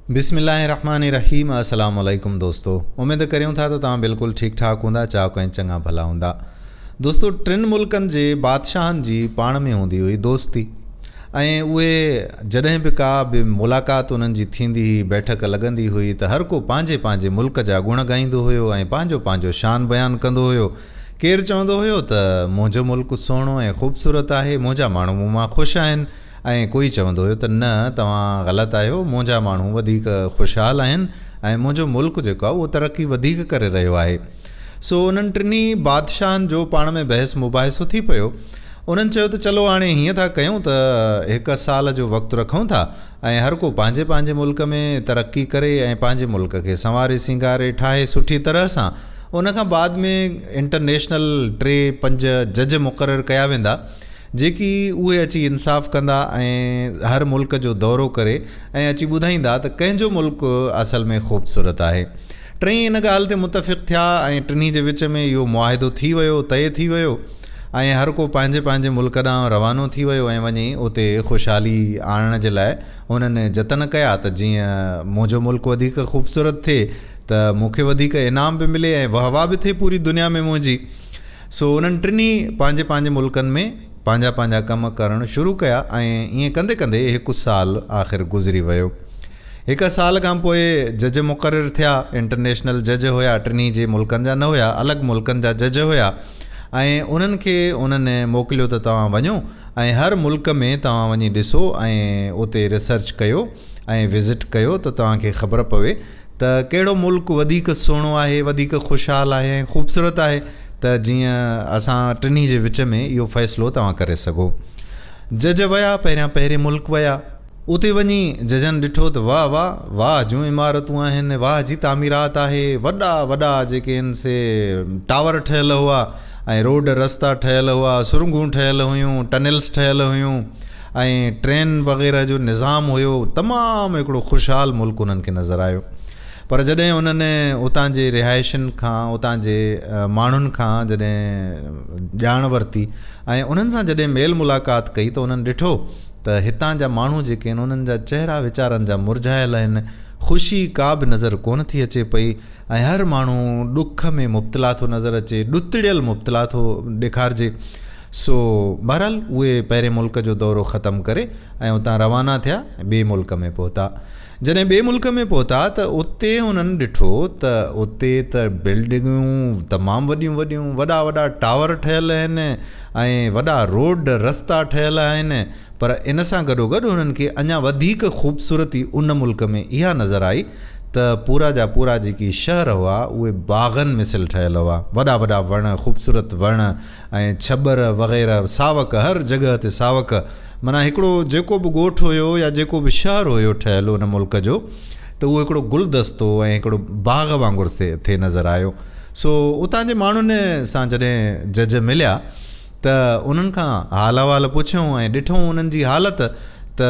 بسم الله الرحمٰن الرحيم السلام عليڪم دوستو اميد ڪريون ٿا ته توهان بلڪل ٺيڪ ٺاڪ هوندا چاڪ ۽ چڱا ڀلا هوندا دوستو ٽن ملڪن جي بادشاهن جي پاڻ ۾ هوندي هئي دوستي ۽ اهي جڏهن به ڪا به ملاقات انهن جي ٿيندي هئي بيٺڪ لڳندي هئي ته هر ڪو پنهنجي پنهنجي ملڪ جا گڻ ڳائيندو هيو ۽ پنهنجو پنهنجو شان بيان ڪندو هيو ڪير چوندو هيو ته منهنجو ملڪ سهڻو ۽ خوبصورت آهي منهنجا ماڻهو مون مان خوش آهن ۽ ڪوئي چوندو هيو ته نه توهان غلط آهيو، منهنجا ماڻهو وڌيڪ خوشحال آهن ۽ منهنجو ملڪ جيڪو آهي اهو ترقي وڌيڪ ڪري رهيو آهي. سو انهن ٽنهي بادشاهن جو پاڻ ۾ بحث مباحثو ٿي پيو. انهن چيو ته چلو هاڻي هيئن ٿا ڪيون ته هڪ سال جو وقت رکون ٿا ۽ هر ڪو پنهنجي پنهنجي ملڪ ۾ ترقي ڪري ۽ پنهنجي ملڪ کي سنواري سينگاري ٺاهي سٺي طرح سان ان کان بعد ۾ انٽرنيشنل ٽي پنج جج مقرر ڪيا ويندا جيڪي اهي اچي انصاف ڪندا ۽ هر ملڪ جو دورو ڪري ۽ اچي ٻڌائيندا ته ڪنهن جو ملڪ اصل ۾ خوبصورت آهي. ٽئي ان ڳالهه تي متفق ٿيا ۽ ٽنهي جي وچ ۾ اهو معاهدو ٿي ويو، طئي ٿي ويو ۽ هر ڪو پنهنجي پنهنجي ملڪ ڏانهن روانو ٿي ويو ۽ وڃي اتي خوشحالي آڻڻ جي لاء هنن جتن ڪيا ته جيئن منهنجو ملڪ وڌيڪ خوبصورت ٿئي ته مون کي وڌيڪ انعام به ملي ۽ وهوا به ٿئي پوري دنيا ۾ منهنجي سو انهن ٽنهي پنهنجي پنهنجي ملڪن ۾ پنهنجا پنهنجا ڪم ڪرڻ شروع ڪيا ۽ ائين ڪندي ڪندي هڪ سال آخر گذري ويو. هڪ سال کان پوء جج مقرر ٿيا. انٽرنيشنل جج هيا، ٽنهي جي ملڪن جا نه هيا، الڳ ملڪن جا جج هيا ۽ انهن کي انهن موڪليو ته توهان وڃو ۽ هر ملڪ ۾ توهان وڃي ڏسو ۽ اتي ريسرچ ڪيو ۽ وزٽ ڪيو ته توهان کي خبر پوي ته ڪهڙو ملڪ وڌيڪ سهڻو آهي، وڌيڪ خوشحال آهي ۽ خوبصورت آهي ته جيئن اسان ٽنهي جي وچ ۾ اهو فيصلو توهان ڪري سگهو. جج ويا، پهريان پهرين ملڪ ويا. اتي وڃي ججن ڏٺو ته واهه واهه، واهه جون عمارتون آهن، واهه جي تعميرات آهي، وڏا وڏا جيڪي هن سي ٽاور ٺهيل هئا ۽ روڊ رستا ٺهيل هئا، سرنگهون ٺهيل هيون، ٽنيلس ٺهيل هيون. ۽ ٽرين وغيره جو نظام هيو تمام هڪڙو خوشحال ملڪ انهن کي نظر آيو پر جڏهن انهن اتان جي رهائشين کان اتان جي ماڻهن کان جڏهن ڄاڻ ورتي ۽ انهن سان جڏهن ميل ملاقات ڪئي ته انهن ڏٺو ته هتان جا ماڻهو جيڪي آهن انهن جا چهرا ويچارن جا مرجهايل آهن خوشي ڪا به نظر ڪونه ٿي اچي پئي ۽ هر ماڻهو ڏک ۾ مبتلا ٿو نظر اچي ڏتڙيل مبتلا ٿو ڏيکارجي سو بهرحال اهي پهرين ملڪ جو دورو ختم ڪري ۽ اتان روانا ٿيا ۽ ٻئي ملڪ ۾ پهتا. جڏهن ٻئي ملڪ ۾ پهتا ته اتي انهن ڏٺو ته اتي ته بلڊنگون تمام وڏيون وڏيون، وڏا وڏا ٽاور ٺهيل آهن ۽ وڏا روڊ رستا ٺهيل آهن پر ان سان گڏوگڏ انهن کي اڃا وڌيڪ خوبصورتي ان ملڪ ۾ اها نظر آئي ته پورا جا پورا جيڪي شهر هئا اهي باغن مثل ٺهيل هئا، وڏا وڏا وڻ، خوبصورت وڻ، ۽ ڇٻر وغيره ساوڪ هر جڳهه تي ساوڪ معنيٰ هڪڙو جيڪو به ڳوٺ هيو يا جيڪو به شهر هيو ٺهيل ان ملڪ جو ته اهو هڪڙو گلدستو ۽ هڪڙو باغ وانگر ٿي نظر آيو سو اتان جي ماڻهن سان جڏهن جج مليا ته انهن کان حال احوال پڇيو ۽ ڏٺئون انهن جي حالت ته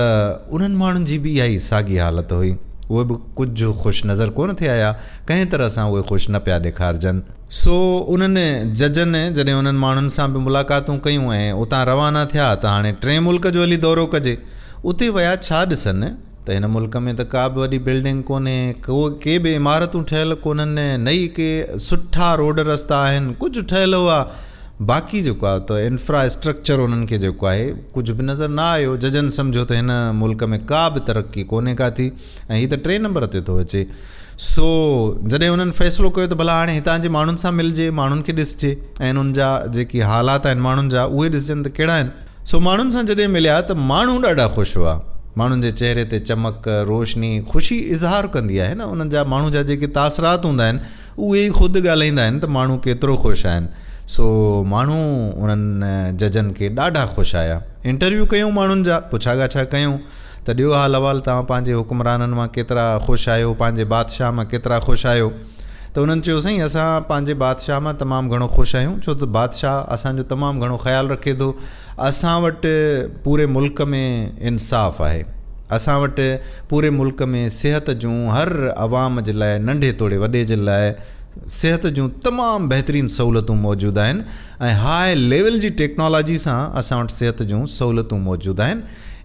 انهن ماڻهن جي به اها ئي ساڳي حالت هئي اهي به ڪجهه خوش نظر ڪونه ٿي آيا ڪنهن طرح سان اهي خوش نه پيا ڏيکارجن. سو انهن ججن جڏهن انهن ماڻهن سان به ملاقاتون ڪيون ۽ اتان روانا ٿيا ته هاڻي ٽئين ملڪ جو هلي دورو ڪجي. اتي ويا ڇا ڏسن ته هن ملڪ ۾ ته ڪا به وڏي بلڊنگ ڪونهي، ڪي به عمارتون ٺهيل ڪونهن، نه ئي ڪي سٺا روڊ رستا آهن، ڪجهه ٺهيل هئا باقي جيڪو آهي ته انفرا اسٽرڪچر انهن کي جيڪو آهي ڪجهه به نظر نه آيو. ججن سمجهيو ته هن ملڪ ۾ ڪا به ترقي ڪونهي ڪا ٿي. ۽ هي ته ٽئين نمبر تي ٿو اچي. سو جڏهن انهن فيصلو ڪيو ته ڀلا هاڻي هتان جي ماڻهن سان ملجي، ماڻهن کي ڏسجي ۽ انهن جا جيڪي حالات آهن ماڻهن جا اهي ڏسجن ته ڪهڙا آهن. سو ماڻهن سان جڏهن مليا ته ماڻهو ڏاڍا خوش هئا. ماڻهن جي چهري تي چمڪ، روشني، خوشي اظهار ڪندي آهي نه انهن جا ماڻهو جا جيڪي تاثرات هوندا آهن اهي ئي خود ڳالهائيندا آهن ته ماڻهو ڪيترو خوش آهن. سو ماڻهو انهن ججن کي ڏاڍا خوش آيا. انٽرويو ڪيون ماڻهن جا، پڇا ڳاڇا ڪيون. ته ڏيو حال احوال توهان پنهنجي حڪمرانن مان ڪيترا خوش آهيو، پنهنجي بادشاهه مان ڪيترا خوش آهيو؟ ته انهن چيو سائين اسان پنهنجي بادشاهه مان تمام گهڻو خوش آهيون ڇو ته بادشاهه اسان جو تمام گهڻو خيال رکي ٿو، اسان وٽ پوري ملڪ ۾ انصاف آهي، اسان وٽ پوري ملڪ ۾ صحت جون هر عوام جي لاء ننڍي توڙي وڏي جي لاء صحت جون تمام بهترين سهولتون موجود آهن ۽ هاء ليول جي ٽيڪنالاجي سان اسان وٽ صحت جون سهولتون موجود آهن.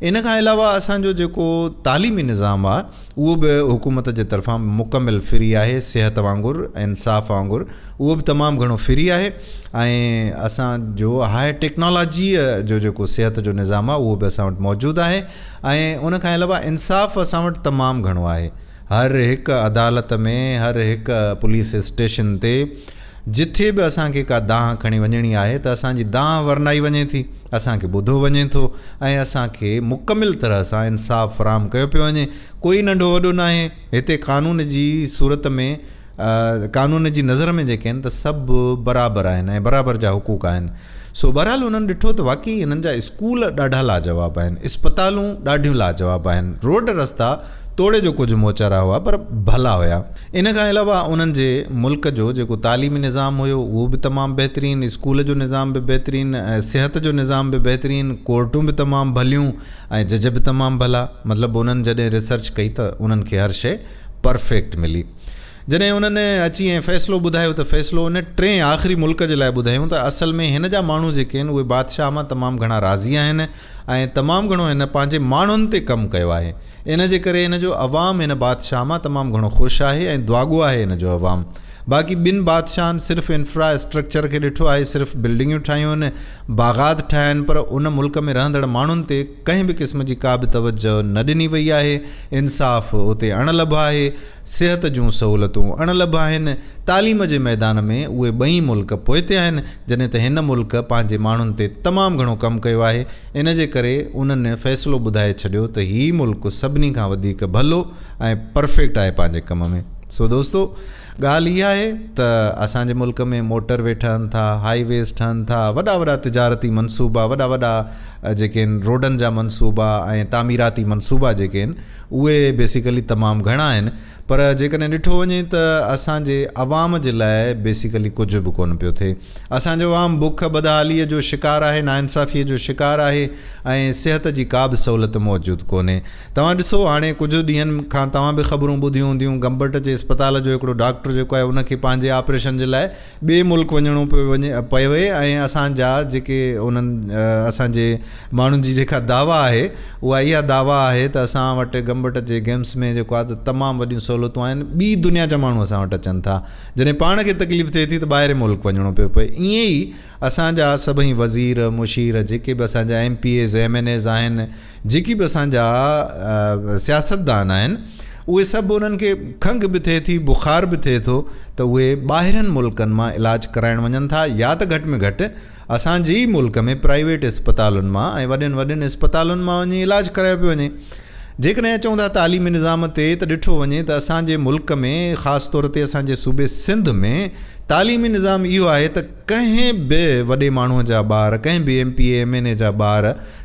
ان کان علاوه اسان جو جيڪو تعليمي نظام آ اهو به حڪومت جي طرفان مڪمل فري آهي صحت وانگر انصاف وانگر اهو به تمام گهڻو فري آهي ۽ اسان جو هاء ٽيڪنالاجي جو جيڪو صحت جو نظام آ اهو به اسان وٽ موجود آهي ۽ ان کان علاوه انصاف اسان وٽ تمام گهڻو آهي هر هڪ عدالت ۾ هر هڪ پوليس اسٽيشن تي جٿي به اسان کي ڪا دانهن کڻي وڃڻي آهي ته اسان جي دانهن ورنائي وڃي ٿي، اسان کي ٻڌو وڃي ٿو ۽ اسان کي مڪمل طرح سان انصاف فراهم ڪيو پيو وڃي. ڪوئي ننڍو وڏو ناهي، هتي قانون جي صورت ۾ قانون جي نظر ۾ جيڪي آهن ته سڀ برابر آهن ۽ برابر جا حقوق آهن. سو بهرحال انهن ڏٺو ته واقعي هنن جا اسڪول ڏاڍا لاجواب آهن، اسپتالون ڏاڍيون لاجواب آهن، روڊ رستا، توڙي جو ڪجهه موچارا هئا پر ڀلا هيا. ان کان علاوه انهن جي ملڪ جو جيڪو تعليمي نظام هيو اهو به تمام بهترين، اسڪول جو نظام به بهترين، صحت جو نظام به بهترين، ڪورٽون به تمام ڀليون ۽ جج به تمام ڀلا. مطلب انهن جڏهن ريسرچ ڪئي ته انهن کي هر شيء پرفيڪٽ ملي. جڏهن انهن اچي ۽ فيصلو ٻڌايو ته فيصلو ان ٽئين آخري ملڪ جي لاء ٻڌايائون ته اصل ۾ هن جا ماڻهو جيڪي آهن اهي بادشاهه مان تمام گهڻا راضي آهن، ۽ تمام گهڻو هن پنهنجي ماڻهن تي ڪم ڪيو آهي ان جي ڪري هن جو عوام هن بادشاهه مان تمام گهڻو خوش آهي ۽ دعاگو آهي هن جو عوام باقي ٻن بادشاهن صرف انفرا اسٽرڪچر کي ڏٺو آهي صرف بلڊنگيون ٺاهيون باغات ٺاهيا آهن پر ان ملڪ ۾ رهندڙ ماڻهن تي ڪنهن به قسم جي ڪا به توجه نه ڏني وئي آهي انصاف اتي اڻ لڀ آهي صحت جون سهولتون اڻ لڀ آهن، تعليم جي ميدان ۾ اهي ٻئي ملڪ پوئتي آهن، جڏهن ته هن ملڪ پنهنجي ماڻهن تي تمام گهڻو ڪم ڪيو آهي، ان جي ڪري انهن فيصلو ٻڌائي ڇڏيو ته هي ملڪ سڀني کان وڌيڪ ڀلو ۽ پرفيڪٽ آهي پنهنجي ڪم ۾. سو دوستو ڳالهه اها آهي ته اسان جي ملڪ ۾ موٽر وي ٺهن ٿا، هائي ويز ٺهن ٿا، وڏا وڏا تجارتي منصوبا، وڏا وڏا جيڪي آهن روڊن جا منصوبا ۽ تعميراتي منصوبا جيڪي آهن، اهي بيسيڪلي تمام گهڻا آهن پر جيڪڏهن ڏٺو وڃي ته اسان جي عوام جي لاء بيسيڪلي ڪجهه به ڪونه پيو ٿئي. اسان جو عوام بک، بدحاليء جو شڪار آهي، ناانصافيء جو شڪار آهي ۽ صحت جي ڪا به سهولت موجود ڪونهي. توهان ڏسو هاڻي ڪجهه ڏينهن کان توهان به خبرون ٻڌيون هونديون گمبٽ جي اسپتال جو هڪڙو ڊاڪٽر جيڪو آهي ان کي پنهنجي آپريشن جي لاء ٻئي ملڪ وڃڻو پيو وڃي پيو ۽ اسان جا جيڪي انهن اسان جي ماڻهن جي جيڪا دعويٰ آهي اها اها دعويٰ آهي ته اسان وٽ گمبٽ جي گيمس ۾ جيڪو آهي ته تمام وڏيون سهولتون آهن ٻي دنيا جا ماڻهو اسان وٽ اچن ٿا جڏهن پاڻ کي تڪليف ٿئي ٿي ته ٻاهرين ملڪ وڃڻو پيو پئي ائين ئي اسان جا سڀئي وزير مشير جيڪي به اسان جا M P As M N As آهن جيڪي به اسان جا سياستدان آهن اهي سڀ انهن کي کنگهه به ٿئي ٿي بخار به ٿئي ٿو ته اهي ٻاهرين ملڪن مان علاج ڪرائڻ وڃن ٿا يا ته گهٽ ۾ گهٽ اسان جي ئي ملڪ ۾ پرائيويٽ اسپتالن مان ۽ وڏين وڏين اسپتالن مان وڃي علاج ڪرايو پيو وڃي جيڪڏهن اچون ٿا تعليمي نظام تي ته ڏٺو وڃي ته اسان جي ملڪ ۾ خاص طور تي اسان جي صوبي سنڌ ۾ تعليمي نظام اهو آهي ته ڪنهن به وڏي ماڻهوء جا ٻار، ڪنهن به M P A, M N A جا ٻار،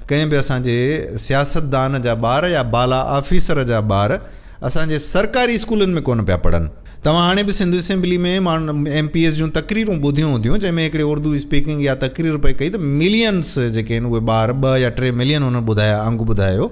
ڪنهن به اسان جي سياستدان جا ٻار يا بالا آفيسر جا ٻار اسان جي سرڪاري اسڪولن ۾ ڪونه پيا پڙهن. توهان هاڻي به Sindh assembly ۾ M P As جون تقريرون ٻڌيون هونديون جنهن ۾ هڪڙي اردو اسپيڪنگ يا تقرير پئي ڪئي ته ملينس جيڪي آهن اهي ٻار ٻه يا ٽي ملين هن ٻڌايا انگ ٻڌايو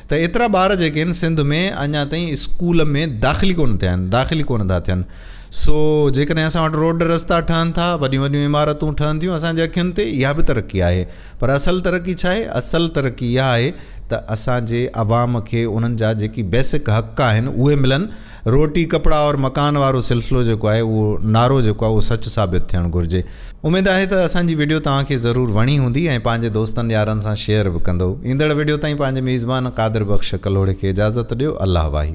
ته ايترا ٻار جيڪي آهن سنڌ ۾ اڃا تائين اسڪول ۾ داخل ڪونه ٿيا آهن داخل ڪونه ٿا ٿين سو جيڪڏهن اسان وٽ روڊ رستا ٺهن ٿا، وڏيون وڏيون عمارتون ٺهن ٿيون اسان جي اکين تي، اها به ترقي آهي. پر اصل ترقي ڇا آهي؟ اصل ترقي اها آهي ته اسان جي عوام کي انهن جا جيڪي بيسڪ حق آهن اهي ملن. روٽي، ڪپڙا اور مڪان وارو سلسلو جيڪو آهي اهو نعرو جيڪو آهي اهو سچ ثابت ٿيڻ گهرجي. اميد آهي ته اسان جي وڊيو توهان کي ضرور وڻي هوندي ۽ پنهنجي دوستن يارن سان شيئر به ڪندؤ. ايندڙ وڊيو تائين پنهنجي ميزبان قادر بخش ڪلهوڙي کي اجازت ڏيو. الله واهي.